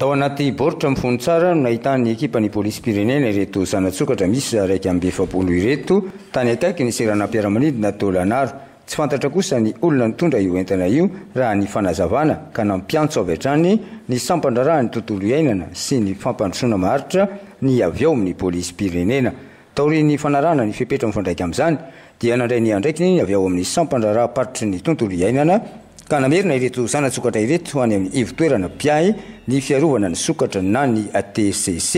Tao anaty baoritra mifono tsara no nahitan'ny ekipan'ny polisim-pirenena ireto zana-tsokatra miisa iraika amby efapolo ireto, tany akaikin'ny seranam-piaramanidina Tôlanaro. Tsy fantatra kosa ny olona nitondra io entana io, raha ny fanazavana, ka nampiantso avy hatrany ny sampan-draharahan'ny tontolo iainana sy ny fampandrosoana maharitra ny avy ao amin'ny polisim-pirenena. Taorian'ny fanarahana ny fepetra mifandraika amin'izany dia nandray ny andraikiny ny avy ao amin'ny sampan-draharaham-paritry ny tontolo iainana ka namerina ireto zana-tsokatra ireto any amin'ny ivo-toerana mpiahy ny fiarovana ny sokatra na ny TCC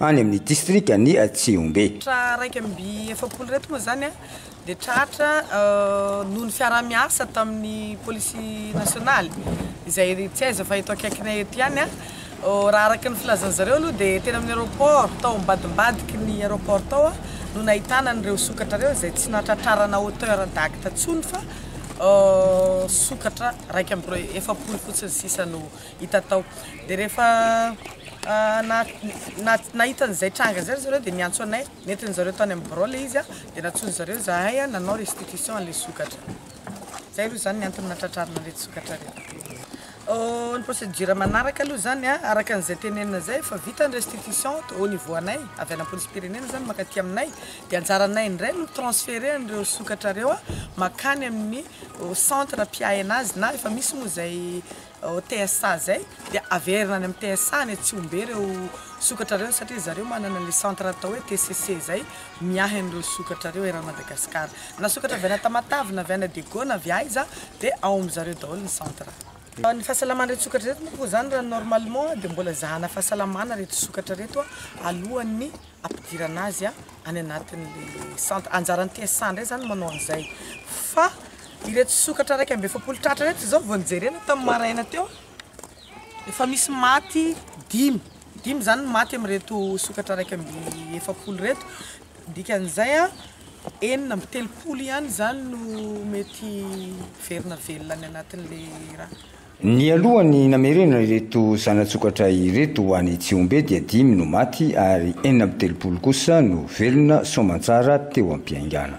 any amin'ny distrikan'i Tsihombe. Tra iraika amby efapolo ireto moa izany dia tratra noho ny fiaraha-miasa tamin'ny polisy nasionaly izay tsy aiza fa eto akaikinay eto ihany. Raha araka ny filazan'ny zareo aloha dia teny amin'ny aéroport tao ambadimbadiky ny aéroport tao no nahitana an'ireo sokatra ireo izay tsy nahatratrarana hauteur d'acte intsony fa sokatra iraika amby roa efapolo fotsiny sisa no hita tao. Dia rehefa nahita an'izay tranga izay ry zareo dia niantso anay. Nentin zareo tany amin'ny birao ilay izy dia nantsoin zareo zahay nanao restitution an'ilay sokatra. Zay aloha izany ny antony natratrarina an'ireto sokatra ireto. Ny procédure manaraka aloha izany araka an'izay tenenina izay efa vita ny restitution au niveau anay avy any am-polisim-pirenena izany mankaty aminay dia anjaranay indray no mi-transferer an'ireo sokatra ireo makany amin'ny centre mpiahy an'azy na efa misy moa izay ao TSA izay dia averina any amin'ny TSA any Tsihombe ireo sokatra ireo satria ry zareo manana ilay centre atao hoe TCC izay miahy an'ireo sokatra ireo eran'i Madagasikara. Na sokatra avy any Tamatave na avy any Adego na avy aiza dia ao amin'i zareo daholo ny centre. Ny fahasalaman'ireto sokatra ireto moa koa izany raha normalement dia mbola ezahana fahasalamana ireto sokatra ireto alohan'ny ampidirana azy any anatin'le centre, anjaran'ny TSA ndray zany manao an'izay fa ireto sokatra iraika amby efapolo tratra ireto izao vao nijerena tamin'ny maraina teo efa misy maty dimy dimy zany ny maty amin'ireto sokatra iraika amby efapolo ireto dikan'izay a enina amby telopolo ihany zany no mety verina velona any anatin'le raha Nialoha ny namerena ireto zana-tsokatra ireto ho any Tsihombe dia dimy no maty ary enina amby telopolo kosa no velona soamantsara teo am-piaingana.